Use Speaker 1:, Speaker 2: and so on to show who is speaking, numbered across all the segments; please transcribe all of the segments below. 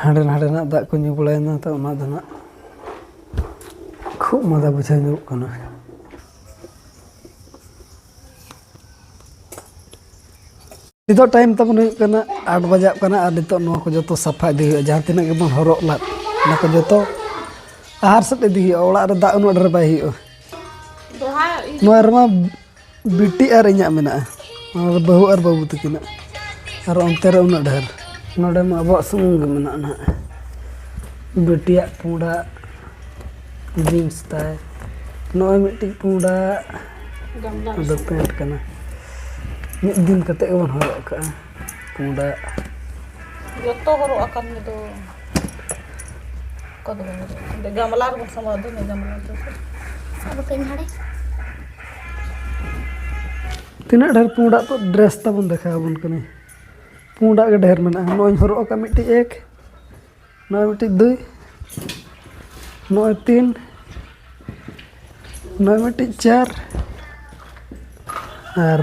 Speaker 1: ᱦᱟᱸᱰᱮ ᱱᱟᱰᱮᱱᱟᱜ ᱫᱟᱜ ᱠᱚ ᱧᱩ ᱵᱟᱲᱟᱭᱮᱱᱟ ᱛᱚ ᱚᱱᱟ ᱫᱚ ᱱᱟᱜ ᱠᱷᱩᱜ ᱢᱟᱫᱟ ᱵᱩᱡᱷᱟᱹᱣ ᱧᱚᱜ ᱠᱟᱱᱟ ᱱᱤᱛᱚᱜ ᱴᱟᱭᱤᱢ ᱛᱟᱵᱚᱱ ᱦᱩᱭᱩᱜ ᱠᱟᱱᱟ ᱟᱴ ᱵᱟᱡᱟᱜ ᱠᱟᱱᱟ ᱟᱨ ᱱᱤᱛᱚᱜ ᱱᱚᱣᱟ ᱠᱚ ᱡᱚᱛᱚ ᱥᱟᱯᱷᱟ ᱤᱫᱤ ᱦᱩᱭᱩᱜᱼᱟ ᱡᱟᱦᱟᱸ ᱛᱤᱱᱟᱹᱜ ᱜᱮᱵᱚᱱ ᱦᱚᱨᱚᱜ ᱞᱟᱫ ᱚᱱᱟ ᱠᱚ ᱡᱚᱛᱚ ᱟᱦᱟᱨ ᱥᱮᱫ ᱤᱫᱤ ᱦᱩᱭᱩᱜᱼᱟ ᱚᱲᱟᱜ ᱨᱮ ᱫᱟᱜ ᱩᱱᱟᱹᱜ ᱰᱷᱮᱨ ᱵᱟᱭ ᱦᱩᱭᱩᱜᱼᱟ ᱱᱚᱣᱟ ᱨᱮᱢᱟ ᱵᱤᱴᱤ ᱟᱨ ᱤᱧᱟᱹᱜ ᱢᱮᱱᱟᱜᱼᱟ ᱟᱨ ᱵᱟᱹᱦᱩ ᱟᱨ ᱵᱟᱹᱵᱩ ᱛᱟᱹᱠᱤᱱᱟᱜ ᱟᱨ ᱚᱱᱛᱮ ᱨᱮ ᱩᱱᱟᱹᱜ ᱰᱷᱮᱨ ᱱᱚᱰᱮ ᱢᱟ ᱟᱵᱚᱣᱟᱜ ᱥᱩᱢᱩᱝ ᱜᱮ ᱢᱮᱱᱟᱜᱼᱟ ᱱᱟᱦᱟᱜ ᱵᱤᱴᱤᱭᱟᱜ ᱯᱩᱸᱰᱟᱜ ᱡᱤᱱᱥ ᱛᱟᱭ ᱱᱚᱜᱼᱚᱭ ᱢᱤᱫᱴᱤᱡ ᱯᱩᱸᱰᱟᱜ ᱫᱚ ᱯᱮᱱᱴ ᱠᱟᱱᱟ ᱢᱤᱫ ᱫᱤᱱ ᱠᱟᱛᱮ ᱜᱮᱵᱚᱱ ᱦᱚᱨᱚᱜ ᱠᱟᱜᱼᱟ ᱯᱩᱸᱰᱟᱜ ᱡᱚᱛᱚ ᱦᱚᱨᱚᱜ ᱟᱠᱟᱱ ᱜᱮ ᱫᱚ ᱚᱠᱟ ᱫᱚ ᱵᱟᱝ ᱜᱟᱢᱞᱟ ᱨᱮᱵᱚᱱ
Speaker 2: ᱥᱟᱢᱵᱟᱣ ᱫᱚ ᱜᱟᱢᱞᱟ ᱫᱚ ᱟᱫᱚ ᱠᱟᱹᱧ ᱦᱟᱲᱮ
Speaker 1: ᱛᱤᱱᱟᱹᱜ ᱰᱷᱮᱨ ᱯᱩᱸᱰᱟᱜ ᱛᱚ ᱰᱨᱮᱥ ᱛᱟᱵᱚᱱ ᱫᱮᱠᱷᱟᱣ ᱟᱵᱚᱱ ᱠᱟᱹᱱᱟᱹᱧ ᱯᱩᱸᱰᱟᱜ ᱜᱮ ᱰᱷᱮᱨ ᱢᱮᱱᱟᱜᱼᱟ ᱱᱚᱜᱼᱚᱭ ᱦᱚᱨᱚᱜ ᱟᱠᱟᱫ ᱢᱤᱫᱴᱤᱡ ᱮᱠ ᱱᱚᱜᱼᱚᱭ ᱢᱤᱫᱴᱤᱡ ᱫᱩᱭ ᱱᱚᱜᱼᱚᱭ ᱛᱤᱱ ᱱᱚᱜᱼᱚᱭ ᱢᱤᱫᱴᱤᱡ ᱪᱟᱨ ᱟᱨ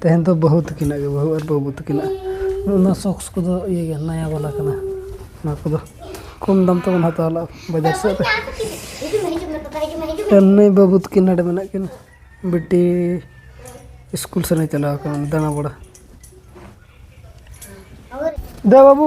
Speaker 1: ᱛᱮᱦᱮᱧ ᱫᱚ ᱵᱟᱹᱦᱩ ᱛᱟᱹᱠᱤᱱᱟᱜ ᱜᱮ ᱵᱟᱹᱦᱩ ᱟᱨ ᱵᱟᱹᱵᱩ ᱛᱟᱹᱠᱤᱱᱟᱜ ᱚᱱᱟ ᱥᱚᱠᱥ ᱠᱚᱫᱚ ᱤᱭᱟᱹ ᱜᱮ ᱱᱟᱭᱟ ᱵᱟᱞᱟ ᱠᱟᱱᱟ ᱚᱱᱟ ᱠᱚᱫᱚ ᱠᱚᱢ ᱫᱟᱢ ᱛᱮᱵᱚᱱ ᱦᱟᱛᱟᱣ ᱞᱟᱜᱼᱟ ᱵᱟᱡᱟᱨ ᱥᱮᱫ ᱨᱮ ᱮᱢᱱᱤ ᱵᱟᱹᱵᱩ ᱛᱟᱹᱠᱤᱱ ᱱᱚᱰᱮ ᱢᱮᱱᱟᱜ ᱠᱤᱱᱟ ᱵᱤᱴᱤ ᱥᱠᱩᱞ ᱥᱮᱱᱮ ᱪᱟᱞᱟᱣ ᱠᱟᱱᱟ ᱫᱟᱬᱟ ᱵᱟᱲᱟ ᱫᱮ ᱵᱟᱹᱵᱩ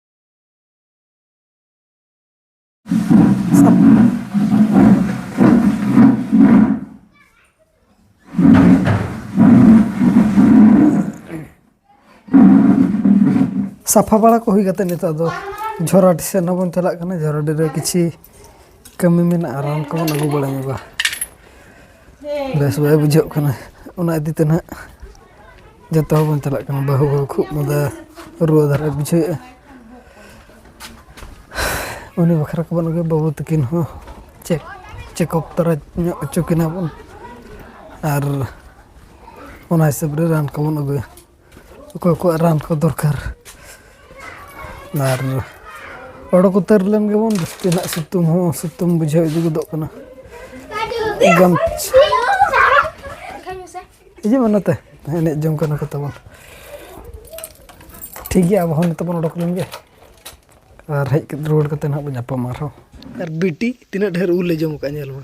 Speaker 1: ᱥᱟᱯᱷᱟ ᱵᱟᱲᱟ ᱠᱚ ᱦᱩᱭ ᱠᱟᱛᱮᱫ ᱱᱤᱛᱚᱜ ᱫᱚ ᱡᱷᱚᱨᱟᱰᱤ ᱥᱮᱫ ᱦᱚᱸ ᱵᱚᱱ ᱪᱟᱞᱟᱜ ᱠᱟᱱᱟ ᱡᱷᱚᱨᱟᱰᱤ ᱨᱮ ᱠᱤᱪᱷᱤ ᱠᱟᱹᱢᱤ ᱢᱮᱱᱟᱜᱼᱟ ᱨᱟᱱ ᱠᱚᱵᱚᱱ ᱟᱹᱜᱩ ᱵᱟᱲᱟ ᱧᱚᱜᱟ ᱵᱮᱥ ᱵᱟᱭ ᱵᱩᱡᱷᱟᱹᱜ ᱠᱟᱱᱟ ᱚᱱᱟ ᱤᱫᱤ ᱛᱮ ᱦᱟᱸᱜ ᱡᱚᱛᱚ ᱦᱚᱲ ᱵᱚᱱ ᱪᱟᱞᱟᱜ ᱠᱟᱱᱟ ᱵᱟᱹᱦᱩ ᱦᱚᱸ ᱠᱷᱩᱜ ᱢᱟᱫᱟ ᱨᱩᱣᱟᱹ ᱫᱷᱟᱨᱟᱭ ᱵᱩᱡᱷᱟᱹᱣᱮᱜᱼᱟ ᱩᱱᱤ ᱵᱟᱠᱷᱨᱟ ᱠᱚᱵᱚᱱ ᱟᱹᱜᱩᱭᱟ ᱵᱟᱹᱵᱩ ᱛᱟᱹᱠᱤᱱ ᱦᱚᱸ ᱪᱮᱠ ᱪᱮᱠᱚᱯ ᱛᱟᱨᱟ ᱧᱚᱜ ᱦᱚᱪᱚ ᱠᱤᱱᱟ ᱵᱚᱱ ᱟᱨ ᱚᱱᱟ ᱦᱤᱥᱟᱹᱵ ᱨᱮ ᱨᱟᱱ ᱠᱚᱵᱚᱱ ᱟᱹᱜᱩᱭᱟ ᱚᱠᱚᱭ ᱠᱚᱣᱟᱜ ᱨᱟᱱ ᱠᱚ ᱫᱚᱨᱠᱟᱨ ᱟᱨ ᱚᱰᱚᱠ ᱩᱛᱟᱹᱨ ᱞᱮᱱ ᱜᱮᱵᱚᱱ ᱡᱟᱹᱥᱛᱤ ᱱᱟᱜ ᱥᱤᱛᱩᱝ ᱦᱚᱸ ᱥᱤᱛᱩᱝ ᱵᱩᱡᱷᱟᱹᱣ ᱤᱫᱤ ᱜᱚᱫᱚᱜ ᱠᱟᱱᱟ ᱜᱟᱢᱪᱷᱟ ᱦᱤᱡᱩᱜ ᱢᱮ ᱱᱚᱛᱮ ᱮᱱᱮᱡ ᱡᱚᱝ ᱠᱟᱱᱟ ᱠᱚ ᱛᱟᱵᱚᱱ ᱴᱷᱤᱠ ᱜᱮᱭᱟ ᱟᱵᱚ ᱦᱚᱸ ᱱᱤᱛᱚᱜ ᱵᱚᱱ ᱚᱰᱚᱠ ᱞᱮᱱ ᱜᱮ ᱟᱨ ᱦᱮᱡ ᱨᱩᱣᱟᱹᱲ ᱠᱟᱛᱮ ᱱᱟᱦᱟᱜ ᱵᱚᱱ ᱧᱟᱯᱟᱢᱟ ᱟᱨᱦᱚᱸ ᱟᱨ ᱵᱤᱴᱤ ᱛᱤᱱᱟᱹᱜ ᱰᱷᱮᱨ ᱩᱞ ᱞᱮ ᱡᱚᱢ ᱠᱟᱜᱼᱟ ᱧᱮᱞ ᱢᱮ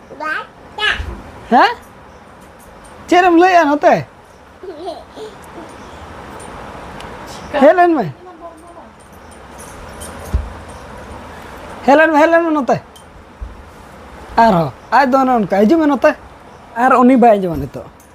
Speaker 3: ᱦᱮᱸ
Speaker 1: ᱪᱮᱫ ᱮᱢ ᱞᱟᱹᱭᱮᱜᱼᱟ ᱱᱚᱛᱮ ᱦᱮᱡ ᱞᱮᱱ ᱢᱮ ᱦᱮᱡ ᱞᱮᱱ ᱢᱮ ᱦᱮᱡ ᱞᱮᱱ ᱢᱮ ᱱᱚᱛᱮ ᱟᱨᱦᱚᱸ ᱟᱡ ᱫᱚ ᱚᱱᱮ ᱚᱱᱠᱟ ᱦᱤᱡᱩᱜ ᱢᱮ ᱱᱚᱛᱮ ᱟᱨ ᱩᱱᱤ ᱵᱟᱭ ᱟᱸᱡᱚᱢᱟ ᱱᱤᱛᱚᱜ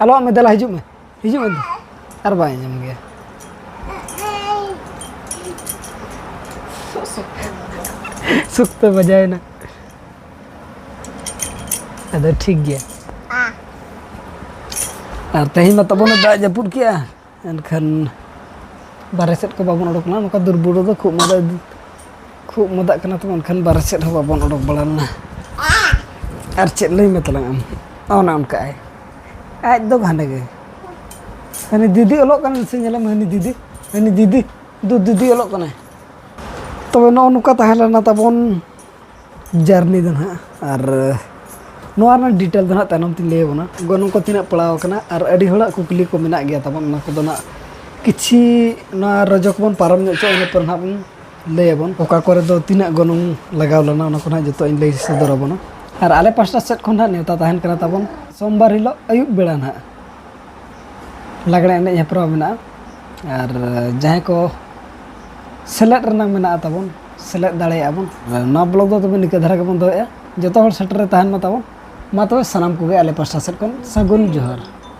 Speaker 1: ᱟᱞᱚᱣᱟᱜ ᱢᱮ ᱫᱮᱞᱟ ᱦᱤᱡᱩᱜ ᱢᱮ ᱦᱤᱡᱩᱜ ᱢᱮ ᱟᱨ ᱵᱟᱭ ᱟᱸᱡᱚᱢ ᱜᱮᱭᱟ ᱥᱩᱠᱛᱚ ᱵᱟᱡᱟᱭᱮᱱᱟ ᱟᱫᱚ ᱴᱷᱤᱠ ᱜᱮᱭᱟ ᱟᱨ ᱛᱮᱦᱮᱧ ᱢᱟ ᱛᱟᱵᱚᱱ ᱫᱟᱜ ᱡᱟᱹᱯᱩᱫ ᱠᱮᱜᱼᱟ ᱮᱱᱠᱷᱟᱱ ᱵᱟᱨᱦᱮ ᱥᱮᱫ ᱠᱚ ᱵᱟᱵᱚᱱ ᱚᱰᱚᱠ ᱞᱮᱱᱟ ᱱᱚᱝᱠᱟ ᱫᱩᱨ ᱵᱩᱨᱩ ᱫᱚ ᱠᱷᱩᱜ ᱢᱟᱫᱟ ᱠᱷᱩᱜ ᱢᱟᱫᱟᱜ ᱠᱟᱱᱟ ᱛᱚ ᱮᱱᱠᱷᱟᱱ ᱵᱟᱨᱦᱮ ᱥᱮᱫ ᱦᱚᱸ ᱵᱟᱵᱚᱱ ᱚᱰᱚᱠ ᱵᱟᱲᱟ ᱞᱮᱱᱟ ᱟᱨ ᱪᱮᱫ ᱞᱟᱹᱭ ᱢᱮ ᱛᱟᱞᱟᱝ ᱟᱢ ᱚᱱᱮ ᱚᱱᱠᱟ ᱟᱭ ᱟᱡ ᱫᱚ ᱜᱷᱟᱸᱰᱮ ᱜᱮ ᱦᱟᱹᱱᱤ ᱫᱤᱫᱤ ᱚᱞᱚᱜ ᱠᱟᱱᱟ ᱥᱮ ᱧᱮᱞᱮᱢ ᱦᱟᱹᱱᱤ ᱫᱤᱫᱤ ᱦᱟᱹᱱᱤ ᱫᱤᱫᱤ ᱫᱩ ᱫᱤᱫᱤ ᱚᱞᱚᱜ ᱠᱟᱱᱟᱭ ᱛᱚᱵᱮ ᱱᱚᱜᱼᱚ ᱱᱚᱝᱠᱟ ᱛᱟᱦᱮᱸ ᱞᱮᱱᱟ ᱛᱟᱵᱚᱱ ᱡᱟᱨᱱᱤ ᱫᱚ ᱱᱟᱦᱟᱜ ᱟᱨ ᱱᱚᱣᱟ ᱨᱮᱱᱟᱜ ᱰᱤᱴᱮᱞ ᱫᱚ ᱱᱟᱦᱟᱜ ᱛᱟᱭᱱᱚᱢ ᱛᱤᱧ ᱞᱟᱹᱭ ᱟᱵᱚᱱᱟ ᱜᱚᱱᱚᱝ ᱠᱚ ᱛᱤᱱᱟᱹᱜ ᱯᱟᱲᱟᱣ ᱟᱠᱟᱱᱟ ᱟᱨ ᱟᱹᱰᱤ ᱦᱚᱲᱟᱜ ᱠᱩᱠᱞᱤ ᱠᱚ ᱢᱮᱱᱟᱜ ᱜᱮᱭᱟ ᱛᱟᱵᱚᱱ ᱚᱱᱟ ᱠᱚᱫᱚ ᱱᱟᱦᱟᱜ ᱠᱤᱪᱷᱤ ᱱᱚᱣᱟ ᱨᱚᱡᱚ ᱠᱚᱵᱚᱱ ᱯᱟᱨᱚᱢ ᱧᱚᱜ ᱦᱚᱪᱚᱜᱼᱟ ᱤᱱᱟᱹ ᱯᱚᱨ ᱱᱟᱦᱟᱜ ᱵᱚᱱ ᱞᱟᱹᱭ ᱟᱵᱚᱱ ᱚᱠᱟ ᱠᱚᱨᱮ ᱫᱚ ᱛᱤᱱᱟᱹᱜ ᱜᱚᱱᱚᱝ ᱞᱟᱜᱟᱣ ᱞᱮᱱᱟ ᱚᱱᱟ ᱠᱚ ᱱᱟᱦᱟᱜ ᱡᱚᱛᱚ ᱤᱧ ᱞᱟᱹᱭ ᱥᱚᱫᱚᱨ ᱟᱵᱚᱱᱟ ᱟᱨ ᱟᱞᱮ ᱯᱟᱥᱴᱟ ᱥᱮᱫ ᱠᱷᱚᱱ ᱱᱟᱦᱟᱜ ᱱᱮᱣᱛᱟ ᱛᱟᱦᱮᱱ ᱠᱟᱱᱟ ᱛᱟᱵᱚᱱ ᱥᱳᱢᱵᱟᱨ ᱦᱤᱞᱳᱜ ᱟᱹᱭᱩᱵ ᱵᱮᱲᱟ ᱱᱟᱦᱟᱜ ᱞᱟᱜᱽᱬᱮ ᱮᱱᱮᱡ ᱦᱮᱯᱨᱟᱣ ᱢᱮᱱᱟᱜᱼᱟ ᱟᱨ ᱡᱟᱦᱟᱸᱭ ᱠᱚ ᱥᱮᱞᱮᱫ ᱨᱮᱱᱟᱜ ᱢᱮᱱᱟᱜᱼᱟ ᱛᱟᱵᱚᱱ ᱥᱮᱞᱮᱫ ᱫᱟᱲᱮᱭᱟᱜᱼᱟ ᱵᱚᱱ ᱱᱚᱣᱟ ᱵᱞᱚᱜ ᱫᱚ ᱛᱚᱵᱮ ᱱᱤᱠᱟᱹ ᱫᱷᱟᱨᱟ ᱜᱮᱵᱚᱱ ᱫᱚᱦᱚᱭᱮᱫᱼᱟ ᱡᱚᱛᱚ ᱦᱚᱲ ᱥᱮᱴᱮᱨ ᱨᱮ ᱛᱟᱦᱮᱱ ᱢᱟ ᱛᱟᱵᱚᱱ ᱢᱟ ᱛᱚᱵᱮ ᱥᱟᱱᱟᱢ ᱠᱚᱜᱮ ᱟᱞᱮ ᱯᱟᱥᱴᱟ ᱥᱮᱫ ᱠᱷᱚᱱ ᱥᱟᱹᱜᱩᱱ ᱡᱚᱦᱟᱨ